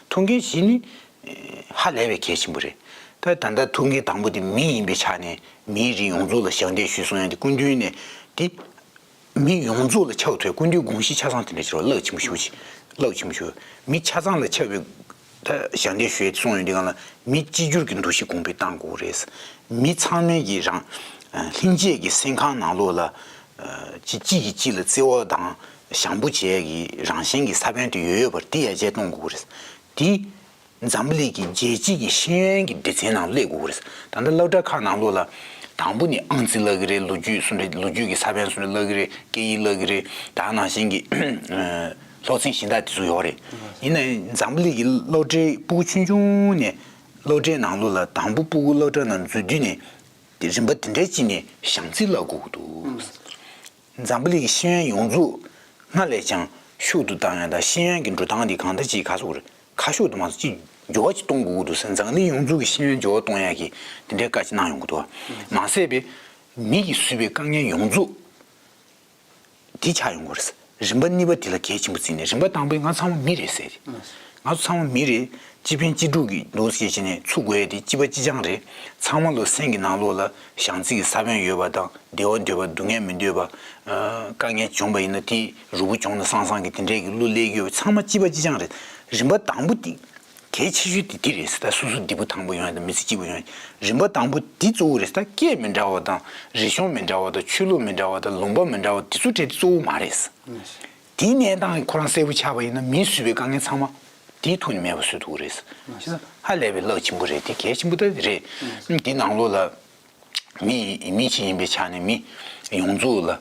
ཐུགས་འགན་བཞི་ནི་ཧ་ལས་པའི་གལ་ཆེན་པོ་རེད། ད་ལྟ་ཐུགས་འགན་དང་པོ་དེ་མི་ཡིན་པའི་ཆ་ནས་མིའི་རིགས་ཡོངས་རྫོགས་ལ་ཞབས་འདེགས་ཞུས་སོང་ཡང་དེ་སྐུ་མདུན་ནས་དེ། མི་ཡོངས་རྫོགས་ལ་ཆགས་ཐོའི་སྐུ་མདུན་དགོངས་གཞི་ཆ་ཚང་དེ་འདྲ་ཆགས་རླག་ཆེན་པོ་ཞུ་ཆེ། རླག་ཆེན་པོ་ཞུ། མི་ཆ་ཚང་ལ་ཆགས་པའི། ད་ཞབས་འདེགས་ཞུས་སོང་ཡང་དེ་གང་ལ་མི་གཅིག་གྱུར་གྱི་འདུ་ཤེས་གོང་འཕེལ་གཏང་དགོས་རེད། མི་ཚང་མའི་གི་རང། ལྷིང་འབྱེད་ཀྱི་སེམས་ཁང་ནང་ལོགས་ལ། གཅིག་གིས་གཅིག་ལ་བརྩེ་བ་དང་ཞང་པོ་བཅས་ཀྱི་རང་བཞིན་གྱི་ས་བོན་དུ་ཡོད་ཡོད་པར་དེ་ཡར་རྒྱས་གཏོང་དགོས་རེད། དེ་འཛམ་གླིག་གི་རྒྱལ་སྤྱི་གི་ཤེས་ཡོན་གྱི་སྡེ་ཚན་ནང་སླེབས་དགོས་རེད། ད་ལྟ་སློབ་གྲྭ་ཁག་ནང་ལོ་ལ་དང་པོ་ནས་ཨང་རྩིས་བསླབ་གི་རེད་ལོ་རྒྱུས་སུ་རེད་ལོ་རྒྱུས་ཀྱི་ས་བོན་སུ་རེད་བསླབ་གི་རེད་སྐད་ཡིག་བསླབ་གི་རེད་ད་ནང་བཞིན་གྱི་ལྷོག་འཛིང་གཞི་བདག་དེ་ཚོ་ཡོད་རེད། ཡིན་ནའི་འཛམ་གླིག་གི་སློབ་གྲྭའི་སྤུ་གུ་ཆུང་ཆུང་ནས་སློབ་གྲྭའི་ནང་ལོ་ལ་དང་པོ་སྤུ་གུ་སློབ་གྲྭ་རྣམས་འཛུལ་དུས་ནས་རིམ་པ་དེ་འདྲའི་སྤྱི་ནས་ཞང་རྩིས་བསླབ་དགོས་འདུག། འཛམ་བུ་གླིང་ཤེས་ཡོན་ཡོངས་རྫོགས་སྔར་ལས་ཀྱང་ཤུགས་ཏུ་བཏང་ཡོད་ལ་ཤེས་ཡོན་གྱི་འགྲོ་སྟངས་འདི་གང་ལྟར་གྱིས་ཁ་སོགས་རིགས་ཁ་ཤོར་དུ་མ་སོང་ཅིག་སྦྱོར་བ་ཅིག་གཏོང་དགོས་ཀྱི་འདུག་ཟེར་འཛམ་བུ་གླིང་ཡོངས་རྫོགས་ཀྱི་ཤེས་ཡོན་སྦྱོར་བ་གཏོང་ཡག་གིས་འདི་འདྲའི་བཀའ་ཅིག་གནང་ཡོང་གི་འདུག་མ་ཟད་པའི་མིག་གིས་བཟོས་པའི་དཀའ་ངལ་ཡོངས་རྫོགས་དེ་ཆགས་ཡོང་གི་རེད་རིམ་པ་གཉིས་པ་དེ་ལ་གལ་ཆེན་པོ་བརྩིས་ནས་རིམ་པ་དང་པོས་ང་ཚང་མ་མི་རེད་ཟེར་ཏེ། ང་ཚོ་ཚང་མ་མི་རེད་སྤྱི་ཕན་སྤྱི་སྒྲུབ་ཀྱི་འདུག་ཟེར་བྱས་ནས་ཚུགས་དགོས་ཡས་དེ་སྤྱི་པ་སྤྱི་ཆང་རེད་ཚང་མ་ལོ་སེང་གི་ནང་ལོགས་ལ། བྱང་ཚིག་གི་ས་བོན་ཡོད་པ་དང་བདེ་བ་འདོད་པ་སྡུག་བསྔལ་མི་འདོད་པ། དཀའ་ངལ་འབྱུང་བ་ཡིན་ན་དེ་རུ་བུ་འབྱུང་ན་སང་སང་གི་དེ་འདྲས་ཀྱི་གླུ་ལེགས་ཡོད་ཚང་མ་སྤྱི་པ་སྤྱི་ཆང་རེད། རིམ་པ་དང་པོ་དེ་གལ་ཆེ་ཤོས་དེ་དེ་རེད་ཟེར་ད་སུ་སུ་བདེ་པོ་དང་པོ་ཡོང་ཡ་དང་མི་ཚེ་སྐྱིད་པོ་ཡོང་ཡ་རིམ་པ་དང་པོ་དེ་གཙོ་བོ་རེད་ཟེར་ད་སྐད་མི་འདྲ་བ་དང་རིག་གཞུང་མི་འདྲ་བ་དང་ཆོས་ལུགས་མི་འདྲ་བ་དང་ལུང་པ་མི་འདྲ་བ་དེ་ཚོ་དྲེད་དེ་གཙོ་བོ་མ་རེད། དེའི་གནས་སྟངས་ཁོ་རང་གསལ་བོ་ཆགས་པ་ཡིན་ན་མིས་བཟོས་པའི་དཀའ་ངལ་ཚང་མ་དེའི་ཐུགས་ནས་མེད་པ་བཟོས་འདུག་རེད། ཧ་ལས་པའི་གླགས་ཆེན་པོ་རེད་དེ་གལ་ཆེན་པོ་དེ་རེད། དེ་ནང་ལོགས་ལ་མི་མི་གཅིག་ཡིན་པའི་ཆ་ནས་མི་ཡོངས་རྫོགས་ལ་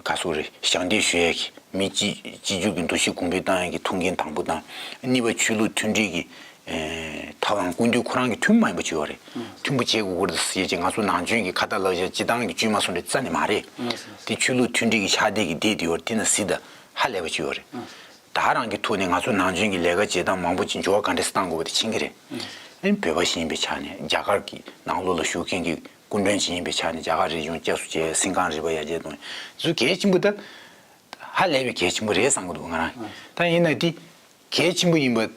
ག་སོགས་རེད་ཞག་འདེབས་ཞུ་ཡ་གི་མི་གཅིག་གཅིག་གྱུར་གྱི་འདུ་ཤེས་གོང་འཕེལ་བཏང་ཡ་གི་ཐུགས་འགན་དང་པོ་དང་གཉིས་པ་ཆོས་ལུགས་མཐུན་སྒྲིལ་གྱི་ད་བར་ཀུན་འདུས་ཁོ་རང་གིས་མཐུན་མ་ཡིན་པ་བྱོས་བ་རེད་མཐུན་པོ་བྱེད་དགོས་ཀི་རེད་ཟེར་རྗེས་ང་ཚོ་ནང་བྱོན་གི་ཁ་བརྡ་ལག་བཞག་སྤྱི་བཏང་གི་བཅོས་མ་སོང་རེད་རྩ་ནས་མ་རེད་དེ་ཆོས་ལུགས་མཐུན་སྒྲིལ་གི་ཕྱག་དེད་གི་སྡེ་འདི་བར་དེ་ན་སི་ད་ཧ་ལས་པ་བྱོས་བ་རེད་ད་རང་གི་ཐུགས་ནས་ང་ཚོ་ནང་བྱོན་གི་ལས་ཀ་བྱེད་སྟངས་མང་པོ་ཅི་འབྱོར་བ་ག་འདྲ་སི་བཏང་དགོས་བ་དེ་མཁྱེན་གི་རེད་ཨེ་བོད་པ་ཞིག་ཡིན་པའི་ཆ་ནས་རྒྱ་གར་གི་ནང་ལོག་ལ་བཞུགས་མཁན་གི་སྐུ་མགྲོན་ཞིག་ཡིན་པའི་ཆ་ནས་རྒྱ་གར་རིག་གཞུང་སྐྱབས་སུ་བྱེད་སེམས་གངས་རི་པ་ཡ་རྗེ་དང་ཟུ་གལ་ཆེན་པོ་ད་ཧ་ལས་པའི་གལ་ཆེན་པོ་རེད་བསམ་གི་འདུག་ང་རང་ད་ཡིན་ན་དེ་གལ་ཆེན་པོ་ཡིན་པ་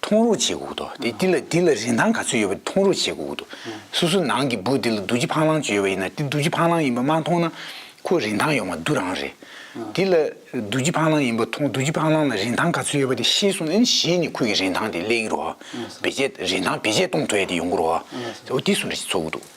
མཐོང་རོགས་བྱེད་དགོས་དོ། དེ་འདི་ལ་འདི་ལ་རིན་ཐང་ག་ཚོད་ཡོད་པ་མཐོང་རོགས་བྱེད་དགོས་དོ། སོ་སོ་ནང་གི་བུ་འདི་ལ་རྡོ་རྗེ་ཕང་ལང་ཅིག་ཡོད་པ་ཡིན་ན་འདི་རྡོ་རྗེ་ཕང་ལང་ཡིན་པ་མ་མཐོང་ན་ཁོ་རིན་ཐང་ཡོང་བ་རྡུ་རང་རེད། འདི་ལ་རྡོ་རྗེ་ཕང་ལང་ཡིན་པ་མཐོང་རྡོ་རྗེ་ཕང་ལང་ལ་རིན་ཐང་ག་ཚོད་ཡོད་པ་དེ་ཤེས་སོང་ན་གཞི་ནས་ཁོ་གི་རིན་ཐང་དེ་གླེང་རོགས། བེད་སྤྱད་རིན་ཐང་བེད་སྤྱད་གཏོང་ཐུབ་ཡ་དེ་ཡོང་གི་རོགས། འོ་དེ་སུ་རེད་ཅེས་ཚོར་གི་འདུག།